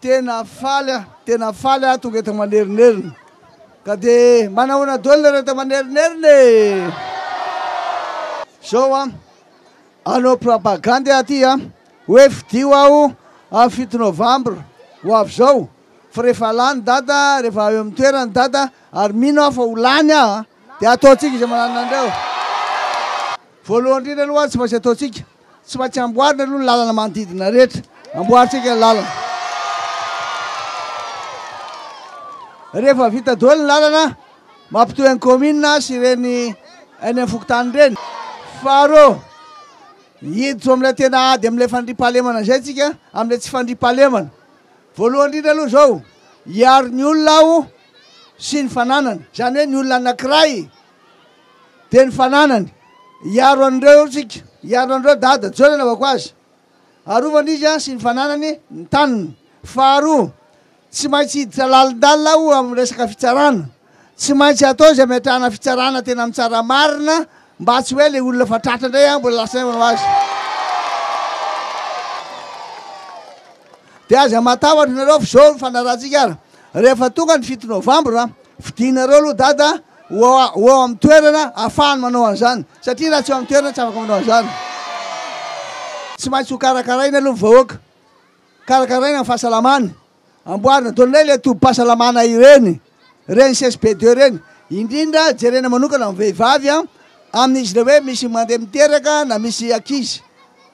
Tena faly aho, tena faly aho tonga eto Manerinerina ka de manahoana doly nareo eto Manerinerina e! Zao an, hanao propagandy aho aty an, hoe fidio aho am fito novambra ho avy zao fa rehefa lany dada, rehefa eo am toerany dada ary mino aho fa ho lany aho an, de ataontsika izay manananareo. Voalohany indrindra aloha tsy maintsy ataontsika, tsy maintsy amboarina aloha ny lalana manodidina rehetra, amboarintsika ny lalana. Rehefa vita doely ny lalana mampitohy an'ny kaominina sy ireny eny amin'ny fokontany ireny. Faharoa, hiditra amin'ilay tena ady amin'ilay fandriampahalemana izay tsika, amin'ilay tsy fandriampahalemana. Voalohany indrindra aloha izao, hiaro ny olona aho sy ny fananany, izany hoe ny olona anankiray, dia ny fananany hiaro an'ireo tsika, hiaro an'ireo dada Joe nanaovako azy, arovany izy an sy ny fananany ny taniny, faharoa tsy maintsy hiditra lalindalina aho amin'ny resaka fitsarana, tsy maintsy atao izay ametrahana fitsarana tena mitsara marina mba tsy hoe ilay olona fa tratra indray an mbola lasa indray manao azy. Dia aza matahotra nareo f'izao ny fanarahantsika ara. Rehefa tonga ny fito novambra, fidinareo aloha dada ho eo amin'ny toerana ahafahany manao an'izany, satria raha tsy eo amin'ny toerana tsy afaka manao an'izany. Tsy maintsy ho karakaraina aloha ny vahoaka, karakaraina ny fahasalamany, amboarina daholo indray ilay tobim-pahasalamana ireny, ireny CSP deux ireny, indrindra jerena manokana ny vehivavy amin'izy ilay hoe misy mandeha miteraka na misy ankizy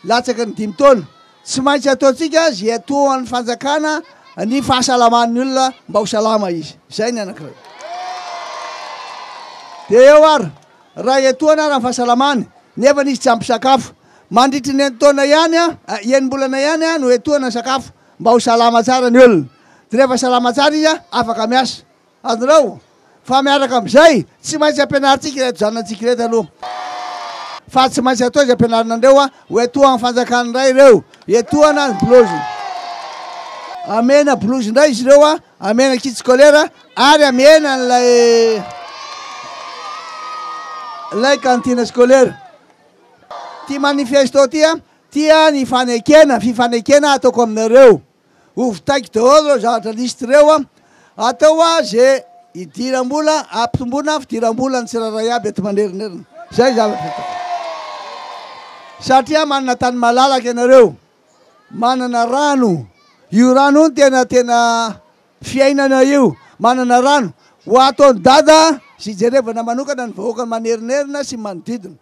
latsaky ny dimy taona, Tsy maintsy ataontsika izay atoan'ny fanjakana ny fahasalaman'ny olona mba ho salama izy. Izay ny anankiray. Dia eo ary, iray atoana ary ny fahasalamany, nefa izy tsy ampy sakafo. Mandritry ny enin-taona ihany, enim-bolana ihany no etoana ny sakafo mba ho salama tsara ny olona. Dia rehefa salama tsara izy, afaka miasa. Adinao fa miaraka amin'izay, tsy maintsy ampianarintsika ireto zanantsika ireto aloha fa tsy maintsy atao izay ampianarinandreo a, ho etohan'ny fanjakana indray ireo, etohana ny bolozy, amena bolozy indray izy ireo a, amena kit scolaire ary amena an'ilay ilay cantine scolaire. Ity manifesto ity a, tia ny fanekena, fifanekena ataoko aminareo. Ho vitaiko daholo ireo zavatra liste ireo an! Atao hoa ze idiram-bola ampitomboina fidiram-bola ny tsirairay aby eto Manerinerina. Zay zavatra ataoko. Satria manana tany malalaka ianareo, manana rano, io rano io no tena tena fiainana io, manana rano. Ho ataon'i Dada sy hijerevana manokana ny vahoakan'i Manerinerina sy ny manodidina.